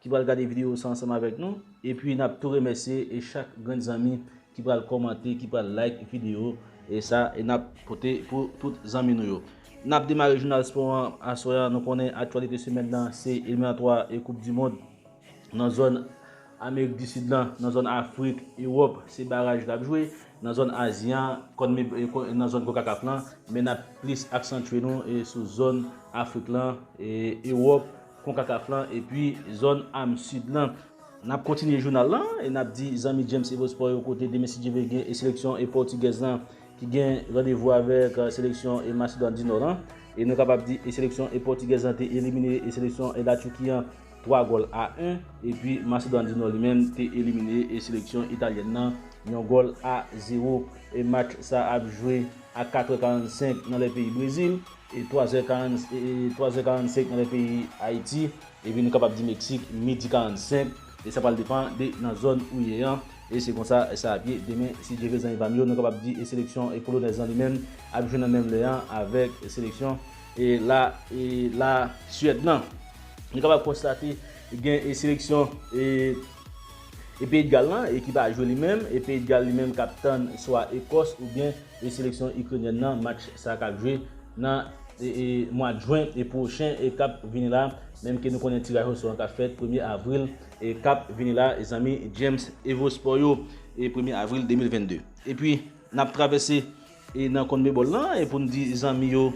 ki pral gade video sa ansanm avèk nou, epi nap tou remèsye e chak grenn zanmi ki pral kòmante ki pral like video e sa e nap pote pou tout zanmi nou yo. Nap demare jounal spò an aswè an nou konnen aktyalite semèn nan se eliminatwa e koup di mond nan zòn amerik di sid lan nan zòn afrik ewòp se baraj kap jwe nan zòn azi an konmeb nan zòn konkakaf lan men nap plis aksantye nou sou zòn afrik lan e ewòp Concacaf lan epi zòn am Sid lan. N ap kontinye jounal lan e n ap di zanmi James Evo Sport yo kote demen si Dye vle gen e seleksyon e pòtigèz lan ki gen randevou avèk seleksyon e Masedwàn di Nò lan e nou kapab di e seleksyon e pòtigèz lan te elimine e seleksyon e Laturki an 3 gòl a 1 epi Masedwàn di Nò li menm te elimine e seleksyon italyèn nan yon gòl a 0 e match sa ap jwe a 4 è 45 nan lè peyi Brezil. 3 zè 45 nan lè peyi Ayiti, epi nou kapab di Meksik midi 45, e sa pral depan de nan zòn ou ye an, e se konsa sa ap ye demen si Dye vle zanmi pa m yo, nou kapab di seleksyon Polonèz lan li menm ap jwe nan menm lè an avèk seleksyon La Suèd lan. Nou kapab konstate gen seleksyon Peyi de Gal lan ki pa jwe li menm, e Peyi de Gal li menm k ap tann swa Ekòs oubyen seleksyon Ikrenyèn nan match sa kap jwe nan mwad Jwen pwochen kap vini la menm ke nou konnen tiraj osò an kap fèt premye Avril kap vini la zanmi James Evospò yo premye Avril 2022 epi nap travèse nan Conmebol lan pou nou di zanmi yo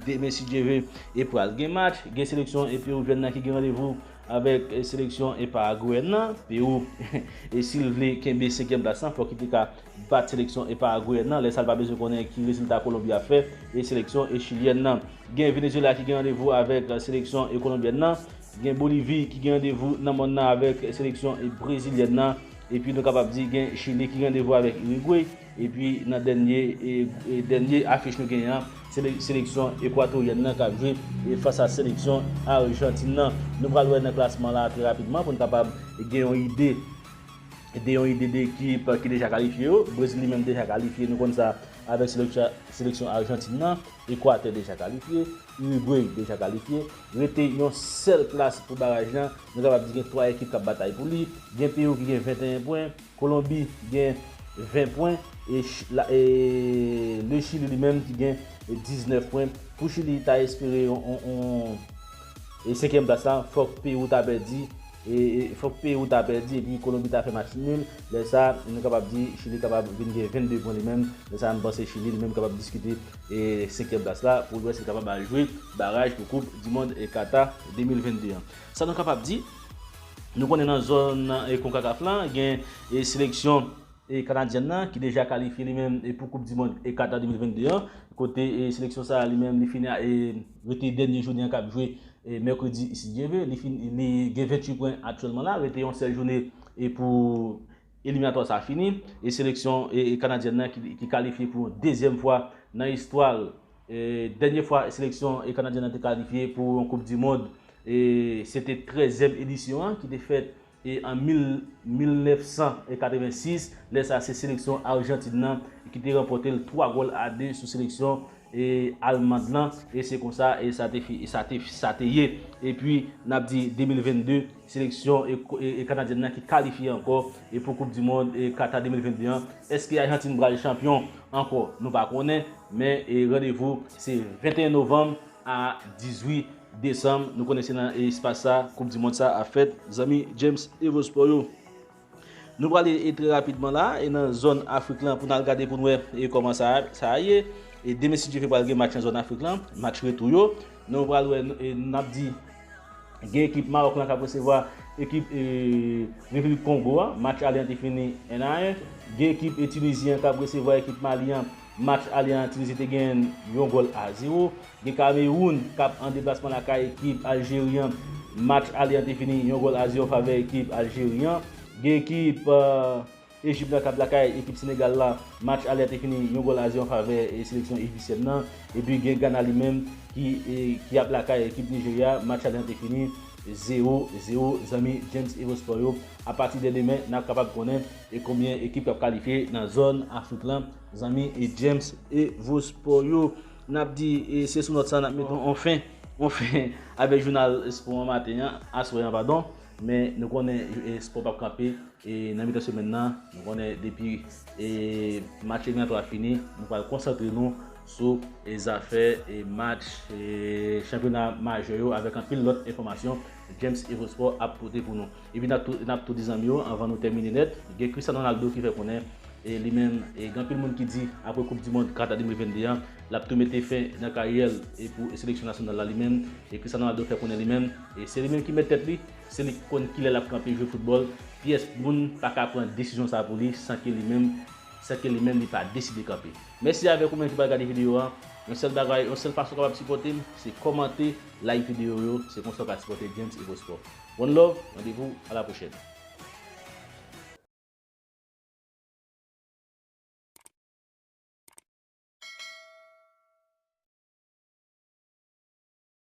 demen si Dye ve pral gen match gen seleksyon Pewoujwèn nan ki gen randevou avèk seleksyon Paragweyèn nan Pewou sil vle kenbe 5 plas lan fòk li te ka bat seleksyon e Paragweyèn nan, lè sa l pa bezwen konnen ki rezilta Kolonbi ap fè e seleksyon e Chilyèn nan. Gen Venezyela ki gen randevou avèk seleksyon e Kolonbyèn nan, gen Bolivi ki gen randevou nan mòn nan avèk seleksyon e Brezilyèn nan, epi nou kapab di gen Chili ki gen randevou avèk Irigwe, epi nan dènye e dènye afich nou genyen an, se seleksyon Ekwatoryèn nan k ap jwe e fas a seleksyon Arjantin nan. Nou pral wè nan klasman la trè rapidman pou n kapab gen yon ide. de yon ide de ekip ki deja kalifye yo. Brezil li menm deja kalifye, nou konn sa avèk seleksyon Arjantin nan. Ekwatè deja kalifye, Urugway deja kalifye. Rete yon sèl plas pou baraj lan, nou kapab di gen 3 ekip k ap batay pou li. Gen Pewou ki gen 21 pwen, Kolonbi gen 20 pwen e Le Chili li menm ki gen 19 pwen. Pou Chili ta espere yon senkyèm plas la, fòk Pewou ta pèdi. Fòk peyi ou ta pèdi epi Kolonbi ta fè match nul, lè sa nou kapab di Chili kapab vin gen 22 pwen li menm, lè sa m panse Chili li menm kapab diskite senkyèm plas la pou l wè si l kapab al jwe baraj pou koup dimond Kata 2022 an. Sa nou kapab di, nou konnen nan zòn konkakaf la gen seleksyon kanadyèn nan ki deja kalifye li menm pou koup dimond Kata 2022 an kote seleksyon sa li menm li fini. Rete dènye jounen an kap jwe mèkredi si Dye ve. Li fin li gen 28 pwen aktyèlman la. Rete yon sèl joune pou eliminatwa sa fini. E seleksyon kanadyèn nan ki kalifye pou yon dezyèm fwa nan istwa l. Dènye fwa seleksyon kanadyèn nan te kalifye pou yon koup di mond se te trèzyèm edisyon an ki te fèt E an 1986, lè sa se seleksyon Arjantin nan ki te ranpòte l 3 gòl a 2 sou seleksyon Almand lan. E se konsa sa te ye. E pi n ap di 2022, seleksyon Kanadyèn nan ki kalifye ankò pou koup di mond Kata 2022 an. Eske Ajantin pral chanpyon ankò? Nou pa konnen. Men randevou se 21 novanm a 18 Desanm, nou konnen se nan espas sa koup di mond sa ap fèt, zanmi James Evosport yo. Nou prale e trè rapidman la e nan zòn Afrik lan pou nan al gade pou n wè e kòman sa sa ye. E demen si Dye ve pral gen match nan zòn Afrik lan, match retou yo. Nou pral wè e n ap di gen ekip Maròk lan k ap resevwa ekip e Repiblik Kongo a, match ale an te fini 1 a 1. Gen ekip e Tinizyen an k ap resevwa ekip Mali an. match ale an Tunisie te genyen yon gòl a 0. Gen Kameroun kap an deplasman lakay ekip Aljeri an. Match ale an te fini yon gòl a 0 an favè ekip Aljeri an. Gen ekip Ejip nan kap lakay ekip Senegal la. Match ale an te fini yon gòl a 0 an favè seleksyon ejisyèn nan. Epi gen Gana li menm ki ap lakay ekip Nijerya. Match ale an te fini 0, 0. Zanmi James Evo Sport yo, apati de demen nap kapab konnen. E konbyen ekip kap kalifye nan zòn afrik lan zanmi e James e vo spò yo nap di e se sou nòt sa nap met on fen on fen avèk jounal spò an maten an aswè an padon men nou konnen e spò pap kanpe e nan mitan semèn nan nou konnen depi e match eliminatwa a fini nou pral konsantre nou sou e zafè e match e chanpyona majè yo avèk anpil lòt enfòmasyon James e vo spò ap pote pou nou. Epi nap tou di zanmi yo anvan nou tèmine nèt, gen Cristiano Ronaldo ki fè konnen li menm gen anpil moun ki di apre koup di mond Qatar 2022 an lap tou mete fen nan karyè l pou seleksyon nasyonal la li menm Cristiano Ronaldo fè konnen li menm se li menm ki mèt tèt li se li ki konn kilè lap kanpe jwe foutbòl pyès moun pa ka pran desizyon sa pou li san ke li menm san ke li menm li pa deside kanpe. Mèsi avèk ou menm ki pral gade videyo an yon sèl bagay yon sèl fason w kapab sipòte m se kòmante like videyo yo se konsa w ka sipòte James Evo Sport. One love randevou a la pwochèn.